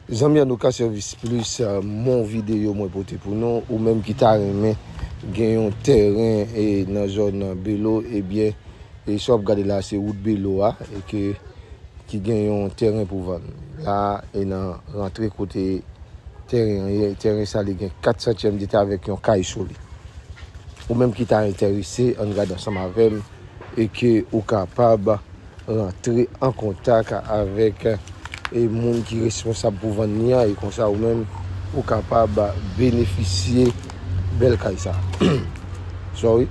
Zanmi an nou ka sèvis plis mon videyo mwen pote pou nou ou menm ki ta renmen gen yon tèren nan zòn belo ebyen e sa wap gade la se wout belo a e ke ki gen yon tèren pou vann la e nan rantre kote tèren an ye tèren sa li gen 4 santyèm deta avèk yon kay sou li ou menm ki ta entèrese ann gade ansanm avèm. e ke ou kapab rantre an kontak avèk e moun ki responsab pou vann li an e konsa ou menm ou kapab benefisye bèl kay sa sorry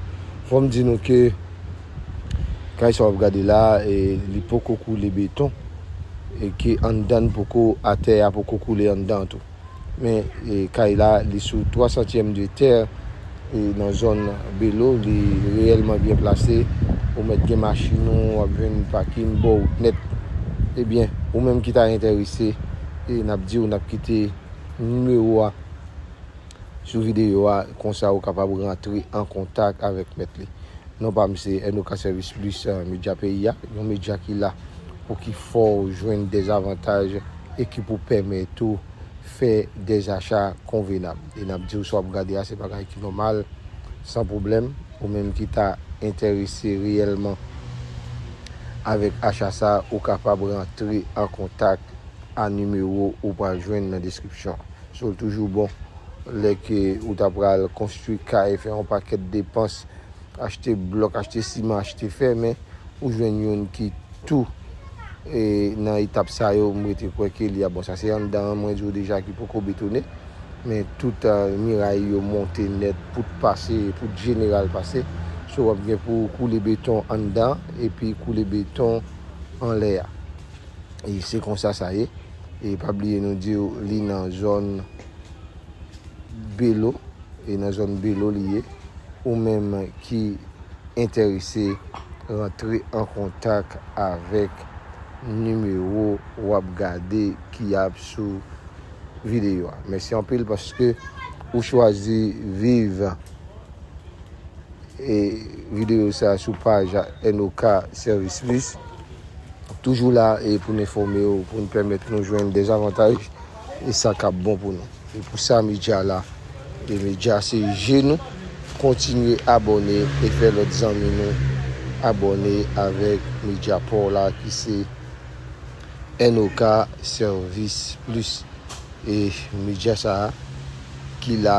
fòm di nou ke kay sa wap gade la e li poko koule beton e ke anndan poko atè a poko koule anndan tou. Men kay la li sou 3 santyèm de tè e nan zòn Belo li reyèlman byen plase. Ou mèt gen machin ou ap jwenn pakin bò wout nèt. Ebyen ou menm ki ta entèrese e nap diw nap kite nimewo a sou videyo a konsa ou kapab rantre an kontak avèk mèt li. Non pam se Enoka Sèvis Plis Medya Peyi a, yon medya ki la Pou ki fè w jwenn dezavantaj e ki pou pèmèt ou fè dezacha konvenab. E n ap di w sa w ap gade a se bagay ki nòmal, san pwoblèm. Ou menm ki ta enterese reyèlman avèk acha sa a, ou kapab rantre an kontak a nimewo ou pral jwenn nan deskripsyon an. So l toujou bon lè ke ou ta pral konstwi kay, fè yon pakèt depans Achte blòk, achte siman, achte fè men ou jwenn youn ki tou e nan etap sa yo m rete kwè ke li ap bon. Sa se anndan an mwen di w deja ki poko betone men tout miray yo monte nèt, pout pase, pout jeneral pase so w ap gen pou w koule beton anndan epi koule beton anlè a. E se konsa sa ye e pa bliye nou di w li nan zòn. Belo e nan zòn Belo li ye. Ou menm ki entèrese rantre an kontak avèk nimewo w ap gade ki ap sou videyo a. Mèsi anpil paske ou chwazi viv videyo sa sou paj NOK Service Plus. Toujou la pou n enfòme w, pou n pèmèt nou jwenn dezavantaj. e sa kap bon pou nou e pou sa media la e media se je nou kontinye abòne e fè lòt zanmi nou abòne avèk media paw la ki se NOK service plus e media sa ki la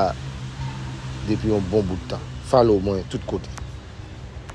depi yon bon bout tan follow mwen tout kote.